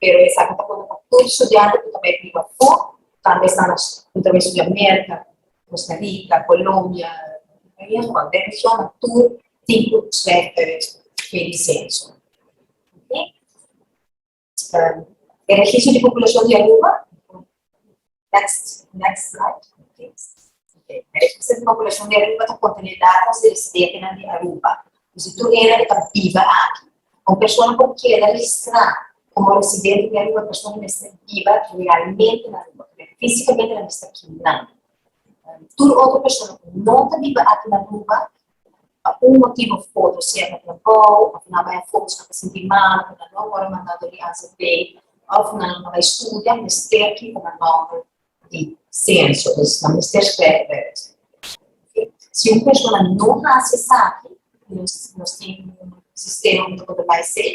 pero esaki ta pone pa tur studiante ku ta bai riba afu, tambe e stado ku ta bai studia Merka, Kosta Rika, Kolombia, den regionnan tur tin ku e lisenso. E registro di populacion di Aruba. Next slide, please. Sete populacion di Aruba ta contene datas di residentenan di Aruba. P'esei tur era cu ta biba aki. Un persona por keda registrá como residente di Aruba, e persona mester biba realmente na Aruba, ta bira físicamente nan mester aki nan. Tur otro persona cu no ta biba aki na Aruba, Pa un motibu of otro, sea ta trabou of nan a bai afobos pa ta sinti mal ku nan no a wòrdu mandado di AZP of nan a bai studia mester kiko nan nòmber di senso. Dus nan mester skrèf Bèrgse. Si un persona no hasi esaki i nos tin un sistema ku ta por ta bai esei,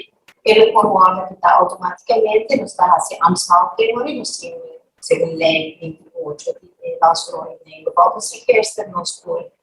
e lo por wòrdu kitá outomátikamente. Nos ta hasi Amtshalve te ora i nos tin un, segun lei binti i ocho di e Banstrooi lei, lo wou di Sint Kirsten nos por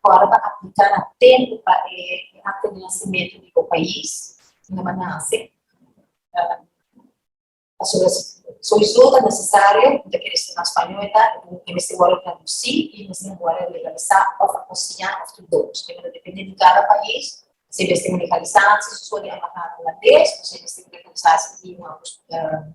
fora pa aplica na tempo pa e acta di nacimento di bo pais unda bo a nace. Pasobra solicitudo ta necesario, bo ta kere stuma spañol eta, e mester worde traduci y e mester worde legaliza of a consigna of tur dos. Tema ta depende di cada pais si e mester legaliza si su soño a baha holandés o si e mester legaliza si tin un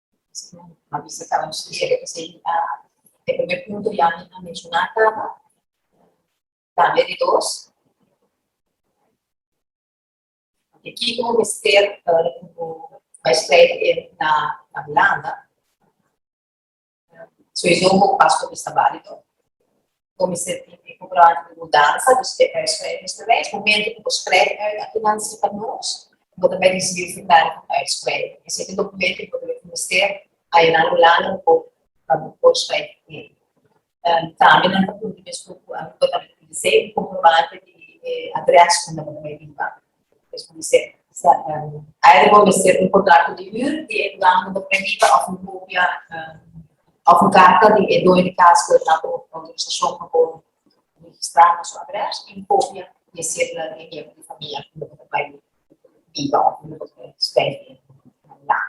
a bisa kaba nos kier esei e primer punto di ami a menshona kaba tambe di dos di kiko bo mester bo bai strai di e na na hulanda soy zo bo pasport esta balido Bo mester tin e programa di mudansa, dus te eis pa e mester mes. Momento ku bo skrèbi uit aki nan si pa nos, bo ta bai risibi e formulario di uitskrèving. Esei ta dokumento ku bo ta bai ku mester haña nan Hulanda hu Poku pa bo por skrèbi tin. Tambe nan ta pudi mespuku Aruba tambe ta pidi esei, un komprobante di e adrès unda bo ta bai biba. Pues bo mester either bo mester un contrato di huur di e lugar unda bo ta hiba of un kopia of un karta di e doño di kas ku a duna bo outorisashon pa bo registrá na su adrès i un kopia di e sedula di e miembro di famia unda bo ta bai biba of unda bo ta bai spendi na e landa.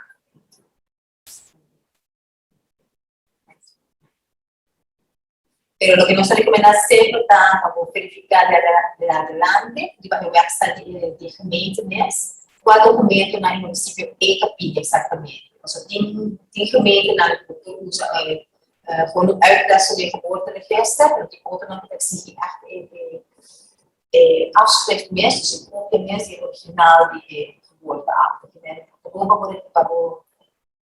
Pero lo que nos recomenda siempre está para verificar de, de adelante, de para website de, de gemeente mes, cuál documento en el municipio ECA pide exactamente. O sea, tiene, tiene gemeente en el que usa eh, eh, gewoon uitleg sobre de geboorteregister, pero die auto nog exige echt de, de, de afschrift mes, dus een kopje mes, die original die de geboorteakte. Gewoon para poder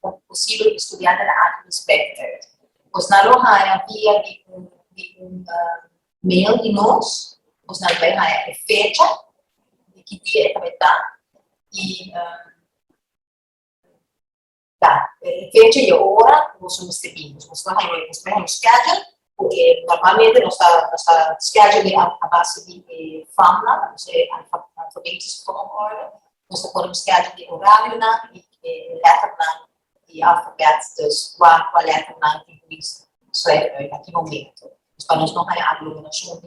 Por posibel e studiante ta aki nos beter. Bos na lo haña bia di un di un mail di nos, bos na lo bai haña e fecha di ki dia e tabata i ta e fecha i e ora ku boso mester bini. Bos mester haña nos schedule Porque normalmente nos ta nos ta schedule a a base di e famnan, ta nos e alfabetisch volgorde, nos ta pone un schedule di horarionan y e letternan di alfabet, dus cua cua letternan tin cuminsa. Nos ta e aki momento, dus pa nos no haña alumnonan junto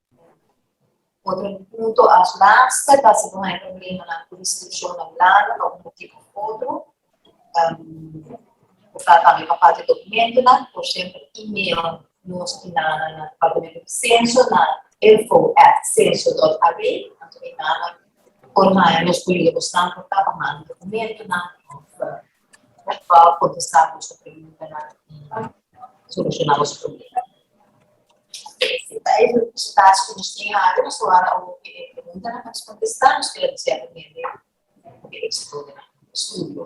Otro punto as laster ta si bo hay problemanan cu inscripcionnan largo pa un motibo of otro. Um, bo ta tambe pa falta documentonan, por siempre email nos y na na na departamento de censo na info at censo.ab, anto y na na por hay nos pulido bosnan por ta pa manda documentonan of uh, pa kontestá nos preguntanan i solushoná nos problema. Ta e resultados ku nos tin ada, nos lo ada un e preguntanan pa nos kontestá, nos keda di sèrto hende un eksitonan na studio.